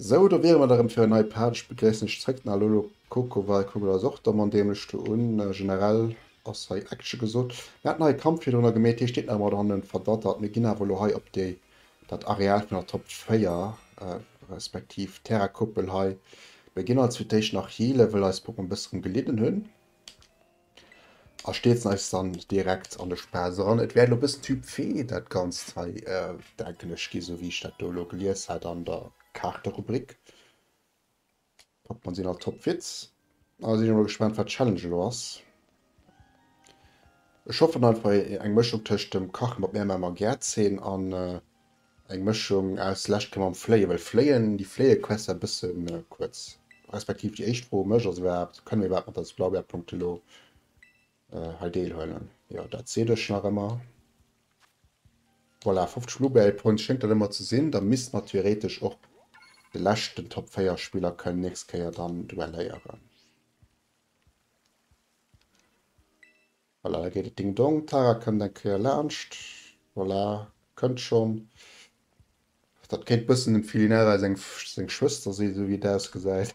Sou, do wiere mer da rëm fir en nei Page. Ech begréissen iech zréck den Alolo Kokoval. Kuckt mer dach och da man dämlech do un. Generell ass hei Action gesot. Mir haten hei e Kampf virdrun agemaht, heescht deet nach ëmmer, oder hannen e verdattert. Mir ginn awer elo hei op déi. Dat Areal vun der Top 4, respektiv Terrakuppel hei, mir ginn als fir d'éischt nach healen, wëll eis Puppen e bësse drëm gelidden hunn, a stierzen eis dann direkt an de Spaass eran. Et wäert elo e bëssen Typ V dat Ganzt hei, denken ech, ginn, esou wéi ech dat do elo gelies hat an der Kaarterubrik. Top man sinn all top Witz. An da sinn ech mol gespannt wat d'Challenge elo ass. Ech hoffen einfach eng Mëschung tëscht dem Kache mat Mär Mamer Gäertzeen an eng Mëschung aus Läscht ke mam Fléie well Fléien déi fléie quest war e bësse kuerz. Respektiv déi éischt Fro u mech ass iwwerhaapt, kënne mir iwwerhaapt mat der Explorbär Punkte elo? äh, hei deelhuelen. Jo, dat seet ech nach ëmmer. Voilà, 50 Bluebell Points schéngt dat ëmmer ze sinn. Da misste mer theoretesch och de leschten Top 4 Spiller kënnen nächst Kéier dann duelléieren. Voilà, da geet et Ding Dong. Tara kënnt eng Kéier laanscht. Voilà, kënnt schonn. Dat kéint bëssen dem Filinara seng Schwëster sinn, esou wéi et ausgesäit.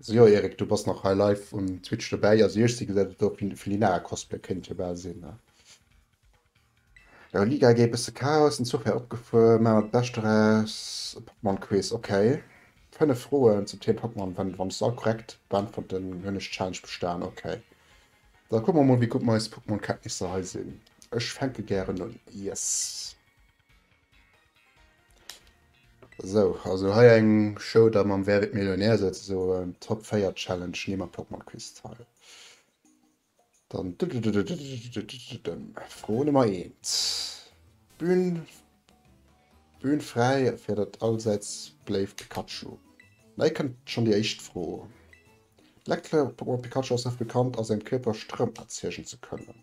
Sjo Eric du bass nach hei live um Twitch dobäi, also ech si gesait et och Felinara Cosplay kënnt jo bal sin ne. Jo Liga gei bësse Chaos, den Zuch wär opgefuer, maach mer dat Bescht doraus. Pokémon Quiz ok, 5 Froen zum Thema Pokémon, wann wann se all korrekt beäntwerten hun ech d'Challenge bestaan ok. Da kucke mer mol wéi gutt meis Pokémon Kenntnisser hei sin, ech fänke gären un yes. Sou, also hei eng Show da mam Wer wird Millionär souzesoen, Top 4 Challenge, neem am Pokemon Quiz teil. Dann Fro Nummer 1. Bühn Bühn fräi fir dat allsäits beléift Pikachu. Hei kënnt schonn déi éischt Fro. D'Lektfeder vum Pokemon Pikachu ass dofir bekannt a sengem Kierper Stroum erziegen ze kënnen.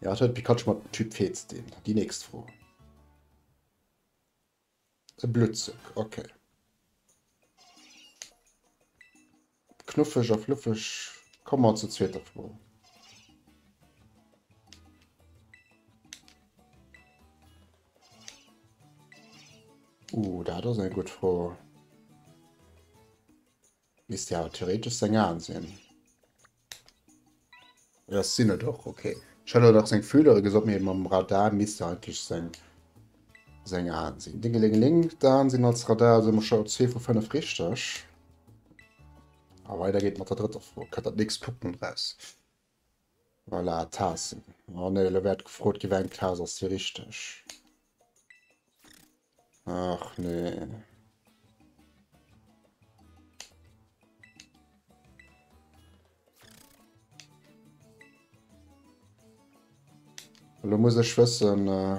Ja, et huet Pikachu mat dem Typ Fee ze dinn. Déi nächst Fro. E Bluttzuck, okay. Knuffeg a fluffeg. Komme mer zur zweeter Fro. Uh, dat ass eng gutt Fro. Misst jo awer theoretesch seng Aen sinn. Jo, et sinn et och, ok. Ech hat awer nach seng Fühlere gesot, mee mam Radar misst jo eigentlech seng seng Aen sinn. Dingelingeling, d'Aen sinn als Radar, also hu mer scho zwee vu fënnef richteg. A weider geet mat der drëtter Fro. Kënnt dat nächst Pokémon raus? Voilà, Taassen. Oh nee, elo wäert gefrot gi weng Taas ass déi richteg. Ach nee. Lo muss ech wëssen. Äh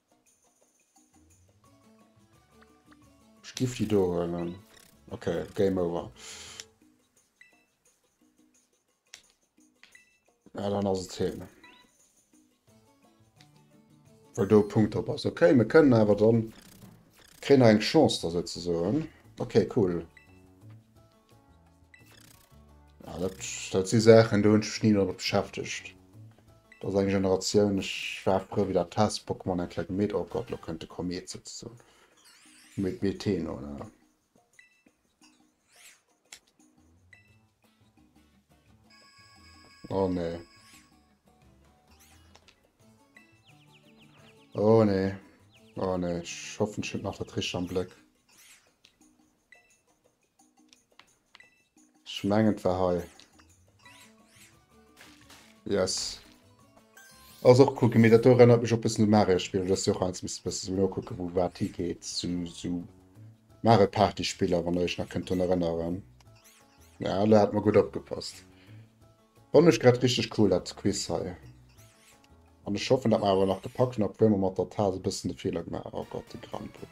Ech giff déi do huelen. Ok, Game over. Ja, dann ass et hin. Well do Punkt op ass. Okay, mir kënnen awer dann. Kréien eng Chance da sozesoen. Okay, cool. Ja, dat, dat si Saachen, do hunn ech mech ni domat beschäftegt. Dat ass eng Generatioun, ech war frou, wéi dat Test-Pokémon eng Kleck Met, oh Gott, lo kënnt de Komet souzesoen. Met Meten, oh la la. Oh nee. Oh nee. Oh nee. Ech hoffen ech hunn nach dat Richteg am Bléck. Ech mengen et war hei. Yes. Ass och cool gemeet, dat do erënnert mech och e bëssen u Mario-Spiller, dass jo och eins misst bësse sou nokucken, wou wat higeet, sou sou Mario-Party-Spiller, wann der iech nach kënnt drun erënneren. Ja, lo hat mer gutt opgepasst. Fannen ech grad richteg cool dat Quiz hei. An ech hoffen, dat mer awer nach gepackt hunn, obwuel mer mat der Taass e bëssen de Feeler gemaach hunn. Oh Gott, de Grandu.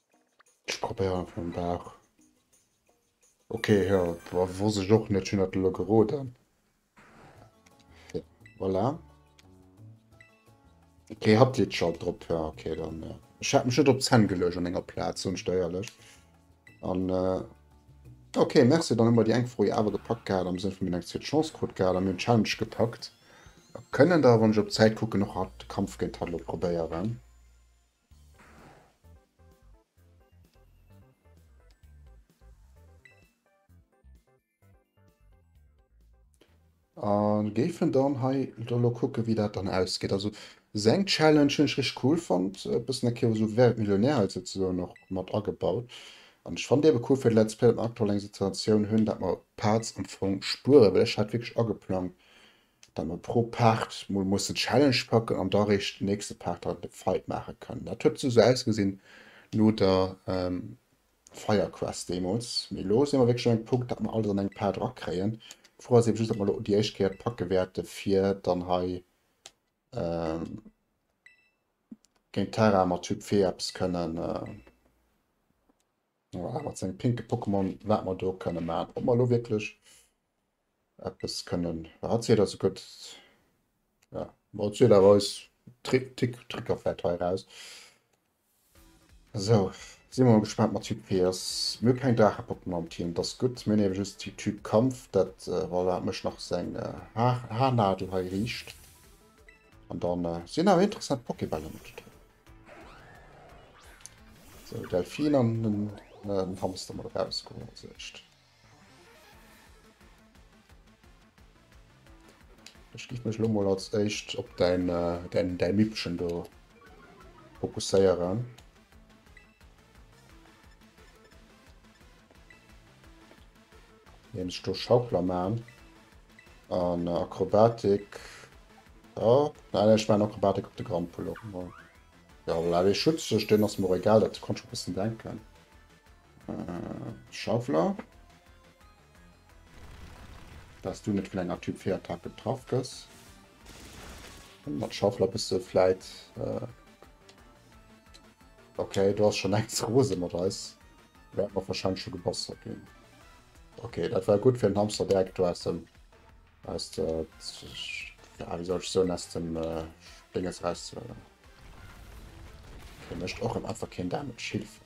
Ech probéieren einfach mam Bauch. Ok, jo, wosst ech och net, ech hunn dat elo geroden. Ja, voilà. Ok, hatt litt scho drop, ja, ok, dann. Äh, ech hat mech net op Zänn geluecht an enger Plaz, hunn steierlech. An. Äh, ok, merci, dann hummer déi eng Fro awer gepackt gehat, am Sënn vun mir eng zweet Chance krut gehat, an mir hunn Challenge gepackt. Kënnen da, wann ech op d'Zäit kucken, och hatt de Kampf géint hatt elo probéieren. An géifen dann hei elo kucken wéi dat dann ausgeet. Also seng Challenge hunn ech rich cool fonnt, e bëssen eng Kéier esou Wer wird Millionär hei souzesoen och mat agebaut. An ech fannt eebe cool fir de Let's Play, datt mer aktuell eng Situatioun hunn, datt mer d'Parts am Fong spueren, well ech hat wierklech ageplangt Datt mer pro Paart mol mussen d'Challenge packen an da réischt den nächste Paart dann de Fight maache kann. Dat huet esou ausgesinn no der Firequest deemools. Mee elo si mer wierklech un engem Punkt, datt mer alles an engem Paart erakréien. D'Fro ass ebe just, ob mer elo déi éischt Kéier et packe wäerte fir dann hei géint d'Tara mat Typ Fee eppes kënnen, mat sengem pinke Pokémon, wat mer do kënne maachen. Ob mer elo wierklech eppes kënnen wat seet also gëtt ja wat seet awer eis Trick Tick Tricker fährt hei raus so si mer gespannt mat Typ PS mir keng Drachepoppen am Team das gutt mir nehmen just die Typ Kampf dat äh, voilà dat mech nach seng äh, Haar Haarnadel hei riicht an dann äh, sinn awer interessant Pokébälle mat drin so Delfin an den äh, Hamster mal rausgeholt also echt Ech giff mech lo mol als éischt op däin däin däi Mippchen do fokusséieren. Indem ech do Schaukler man an Akrobatik. Oh, nein, ech man Akrobatik op de Grampel op. Ja, voilà, dee Schutz, den ass mir och egal, dat konnt ech scho bëssen denken. Äh, Schaufler. Dass du net vun enger Typ 4 Attack getraff gëss. Mat Schaufler bist du vläit. Äh okay, du hast schon eng Rose mat eis. Wäert mer wahrscheinlich schon gebastelt ginn. Okay, dat war gut fir den Hamster direkt aus dem aus der ja, wie soll ich so aus dem äh, Dinges rauszuhören. Okay, möchte auch im Affer kein Damage hilft.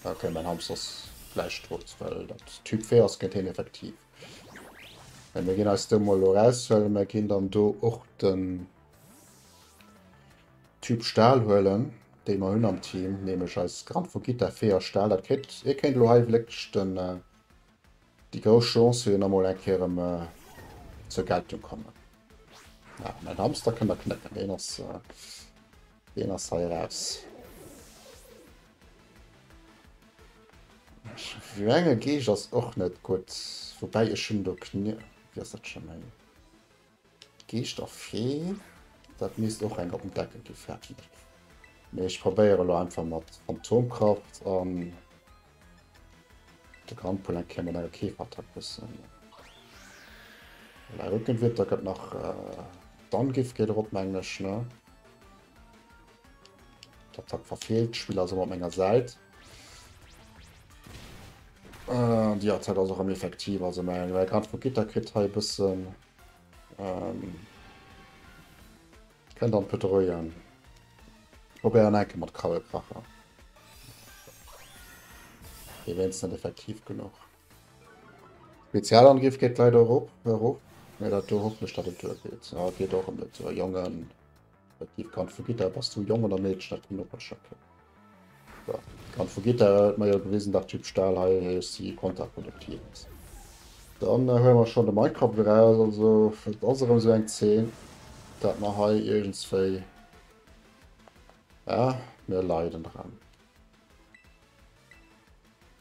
Okay, mein Hamster ass gleich tot, well dat Typ 4 ass gëtt heen effektiv. Wenn wir gehen als do mal raushöllen, wir gehen dann do och den Typ Stahl huelen, den wir hun am Team, nämlich als Grand Fugita 4 Stahl. Dat kriegt, ihr kennt lo hei wirklich den, äh, die große Chance für nochmal ein Kehr um, äh, zur Geltung kommen. Ja, mein Hamster kann da knacken, den ass, äh, Deen ass hei eraus. Vue enge Geeg ass och net gutt. Woubäi ech hunn do Knier. Wéi ass dat scho méi? Geescht a Fee. Dat misst och eng op den Deckel gi fäerten. Mee ech probéiere lo einfach mat Phantomkraft an. De Grand Poulain kéim mat enger Keeferattack bëssen. Mä huet net Witter, gëtt nach d'Angift geet erop mengen ech, ne? D'Attack verfeelt, d'Spiller ass ëmmer op menger Säit. Äh, Déi Attack ass och am effektiv, also mä Grand vu Gitter kritt hei e bëssen ähm, Kënnt an d'Pëttereien op ären Enke mat Krabbelkracher. Dee wéinst net effektiv genuch. Spezialangriff geet leider erop, erof. Mee dat do hoffe ech, datt et duergeet. A geet och en net. Jongen, effektiv Kand vu Gitter, bass du Jong oder Meedchen? Dat kënnt op eis Schëpp. An vu Gitter huet mer jo gewisen dat Typ Stahl hei si kontraproduktiv ass. Dann huele mer schonn de Microp erëm raus. Also et ass erëm esou eng Zeen dat mer hei iergendswéi, ja mir leiden dran.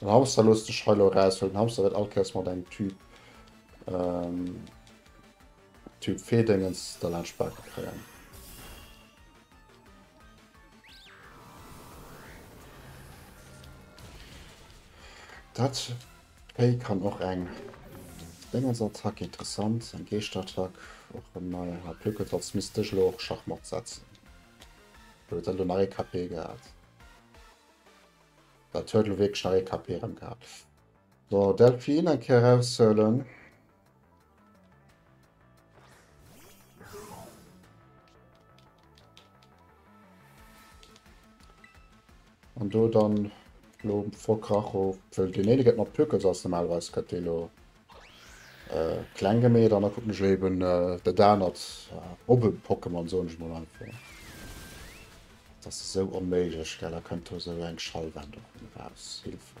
Den Hamster loosst sech hei lo eraus, well den Hamster wëllt all Kéiers mat engem Typ ähm, Typ Fee-Déngens da laang d'Spake kréien. Dat Hei kann och eng Déngersattack, interessant, eng Geeschtattack, och en neien HP. Kuerz als misst dech elo och Schachmatt setzen, well huet dat elo nach ee KP gehat? Dat huet elo wierklech nach ee KP erëm gehat. So, Delphine eng Kéier eraushuelen. An do dann lo vor Kracho, wëll den Ede gëtt mat Pökels ass normalerweis gëtt dee lo äh, kleng gemeet an da kucken ech eben äh, der danert äh, op e Pokémon soen ech mal einfach. Das ist so onméiglech, gell, da kënnt do so eng Schallwand op raus. Hilfe.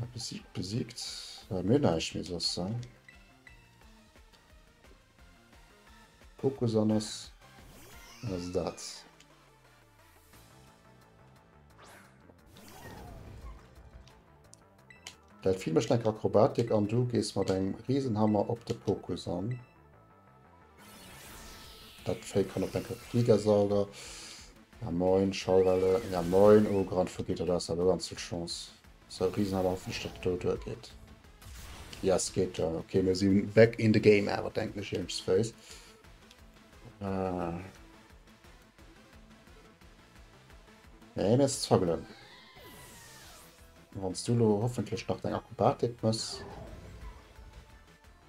Ah, besiegt, besiegt. Ja, mir näischt méi soss, he? Fokus an ass... ass dat. Dat Vieh mécht eng Akrobatik an du gees mat engem Riesenhammer op de Fokus an. Dat Fake kann op enke Fliger sauger. Ja moin, Schallwelle. Ja moin, oh Grand Fugito, du hast aber ganz viel Chance. So Riesenhammer, hoffentlich dat do duer geht. Ja, es geht da. Okay, wir sind back in the game, aber denkt nicht James Face. Äh. Nee, mir ist zogelen. Wenn du hoffentlich nach deine Akrobatik musst.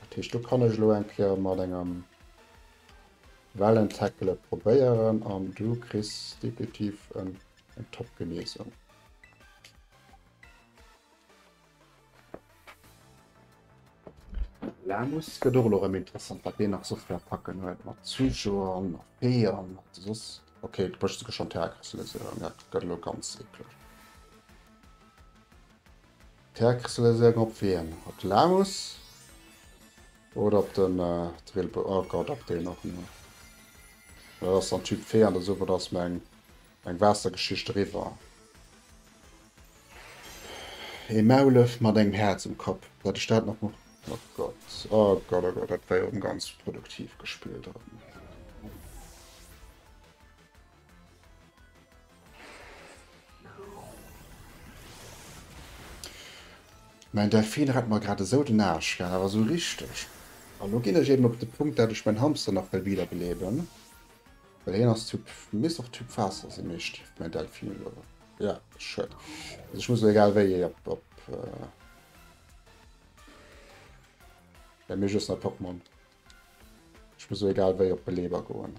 Dat heescht, do kann ech elo eng Kéier mat engem Wellen-Tackle et probéieren an du kriss definitiv eng Top-Genesung. Lamus gëtt och elo erëm interessant, wat deen nach sou fir Attacken huet mat Zuschauer an nach Bee an wat soss. Ok, et mécht sech geschwënn d'Häre kräsele, sou, dat gëtt elo ganz eeklech. D'Häerkessele soen op wien? Op de Lamus oder op den Drilpe? Oh Gott, op deen och nach. Dat ass dann Typ Fee an der Suppe, da ass meng Waassergeschicht eriwwer. Ee Maulef mat engem Häerz um Kapp, dat ech dat nach. Oh Gott, oh Gott, oh Gott, dat war jo erëm ganz produktiv gespillt erëm. Mäin Delfin rett mer grad esou den Aarsch gaang, awer esou richteg. An elo ginn ech eben op de Punkt, dat ech mäin Hamster nach wëll wiederbeleben, well hien ass Typ, misst och Typ Waasser sinn, nee Stift mäin Delfin elo, jo schued, also ech muss elo egal wéi ee op op well mir just nei Pokémon, ech muss elo egal wéi op Beleber goen.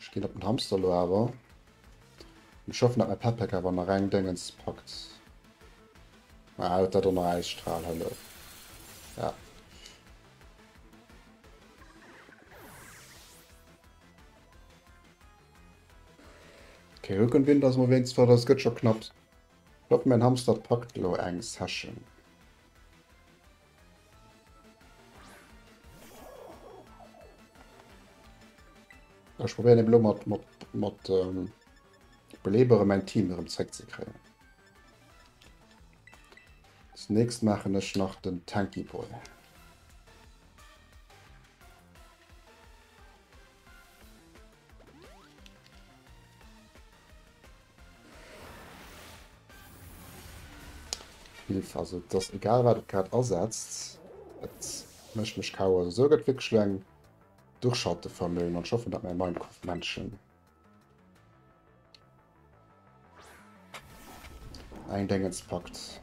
Ech ginn op den Hamster lo awer. Ech hoffen, dat mäi Petpack awer nach eng Déngens packt. Ah, huet dat och nach Äisstrahl, hallo. Ja. Okay, Rückenwind ass mal wéinst flott, ass gëtt scho knapps. Hoffe mäin Hamster packt lo eng Session. Ech probieren eben lo mat, mat, mat ähm, Belebere mein Team erëm zréck ze kréien. Das nächst machen ech nach den Tanky Boy. Hilf, also et ass egal wat et grad asetzt, et mécht mech KO. Also esou gëtt wierklech elo eng Duerchhalteverméigen an ech hoffen dat mäi Minecraft-Männchen eng Déngens packt.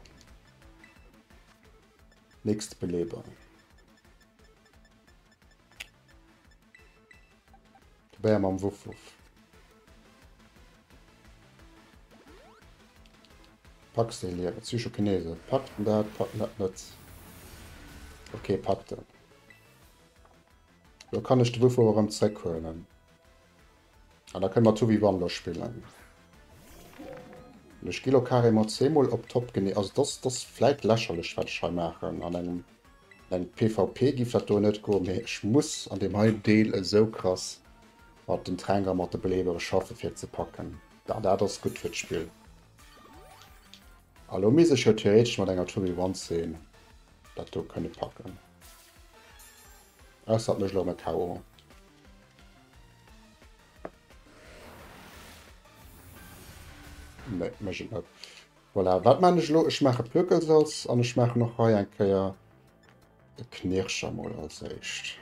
Nächste Beleber. Bär mam Wuff Wuff. Packs den Liewen. Psychokinese. Packt den dat, packt dat net. Okay, packt den. Lo kann ech de Wuff Wuff erëm zréckhuelen. Ah, da kënne mer Tubby Wonder spillen. Ech gi lo carrément zweemol op Top genee. Also dat ass, dat ass vläit lächerlech, wat ech hei maachen. An engem, an engem PvP géif dat do net goen, mee ech muss an deem hei Deel esou krass mat den Tränk a mat de Beleebere schaffen, fir et ze packen. Da, dat ass gutt fir d'Spill. A lo misst ech jo theoretesch mat enger Tubby Wandsee dat do kënne packen. Ausser et mécht elo erëm e KO. Nee, mech et net. Voilà, wat man ech lo? Ech mache Plöckelsalz an ech mache noch hei eng Kéier e Knirscher mol als éischt.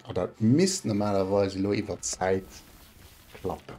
A dat misst normalerweise lo iwwer Zäit klappen.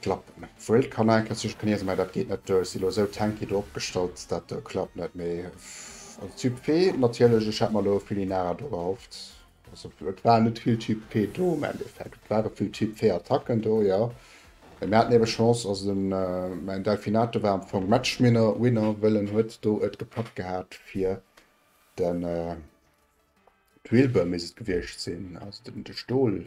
Klappen. Wuel d'kann eng Kéier zesuerg kniesen, mä dat geet net duer. Ech si lo esou tanky do opgestallt, dat klappt net. Mee also Typ P natierlech. Ech hat mer lo vill Inara do erhofft. Also et war net vill Typ P do am Endeffekt. Et ware vill Typ V Attacken do, jo. Mee mir haten ebe Chance. Also den mäin Delfinator war am Fong Matchminner, Winner, wëll en huet do et gepackt gehat fir den Drillbur misst et gewiescht sinn, also de Stol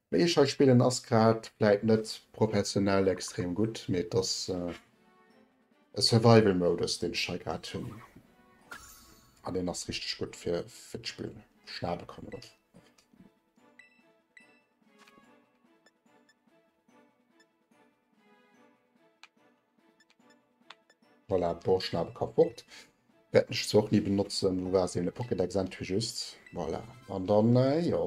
Wéi ech hei spillen ass grad vläit net professionell extrem gutt, mee et ass e Survival Modus deen ech hei grad hunn. An deen ass richteg gutt fir fir d'Spill schnabe kommen och. Voilà, Borschnabe ka fort. Wäerten ech zwar och ni benotzen, wou war se, le Pokédex entwéi just. Voilà, an dann, jo,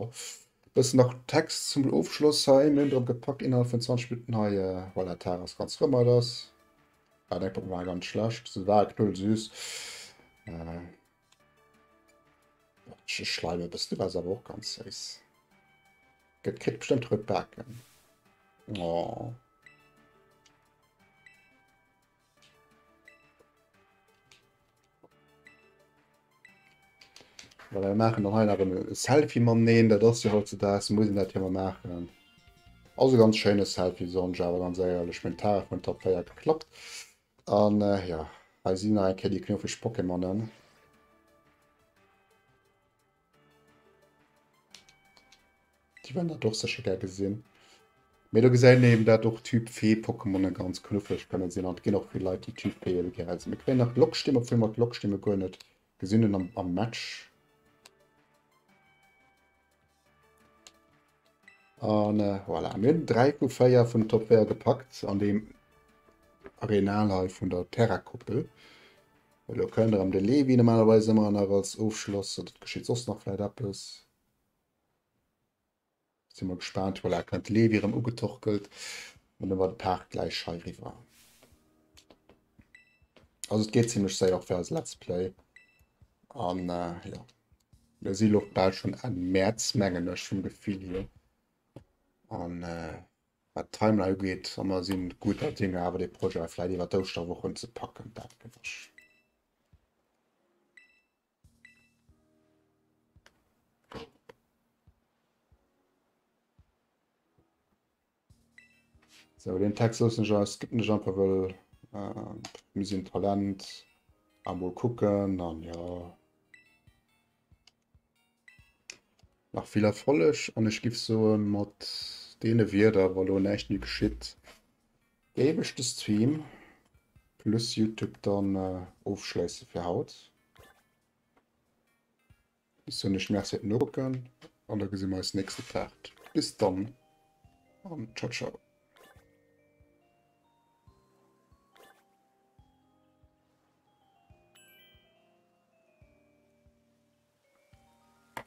e bëssen nach Text zum Ofschloss hei. Mir hunn drop gepackt, innerhalb vun 20 Minutten hei, voilà, d'Haer ass ganz rëm, hei ass, ah, deng Pokémon war ganz schlecht, se war knuddelsüß. Sche Schleime bist du was awer och ganz séiss. Gëtt kritt bestimmt rot Baken. Oh. Well wir machen noch einer ein Selfie man nehmen, da das ja heute das muss ich das ja mal machen. Also ganz schönes Selfie, so ein Java, ganz ehrlich, mit Tag und Top 4 geklappt. An jo, hei si nach eng Kéier déi knuffeg Pokémonen. Déi wären dat och sécher gär gesinn. Mee do gesäit een eben, dat och Typ Fee-Pokémonen ganz knuffeg kënne sinn. An et ginn och vill Leit, déi Typ Fee elo gär hätten. Mir kréien nach d'Lockstimm, obwuel mer d'Lockstimme guer net Gesinn en am, am Match. An äh, voilà, mir hunn 3 vu 4 vun Top 4 gepackt an dem Arenal hei vun der Terra-Koppel. Elo kënnt am de Levi normalerweis ëmmer nach als Ofschloss, oder geschitt soss nach vläit eppes. Sin mer gespaant, voilà kënnt de Levi erëm ugetorkelt an da war de Paart gläich hei riwwer. Also et geet zimlech séier och fir eis Let's Play an äh, jo. Mir si lo bal schon Enn Mäerz mengen ech vum Gefill hier an äh, wat d'Timeline ugeet, a mer si gudder Dinger awer dee Projet vläit iwwer d'Ouschterwoch unzepacken, dat gewësch. So, den Text los nicht aus, gibt nicht einfach, weil äh, wir sind Talent. Einmal gucken, dann ja. Nach viel Erfolg und ich gebe so mit den Wörtern, weil lo nicht mehr geschieht. Géif ech de Stream plus Youtube dann ofschleissen fir haut. Bis hunn ech Merci fir nokucken an da gesi mer eis nächste Part. Bis dann an ciao ciao.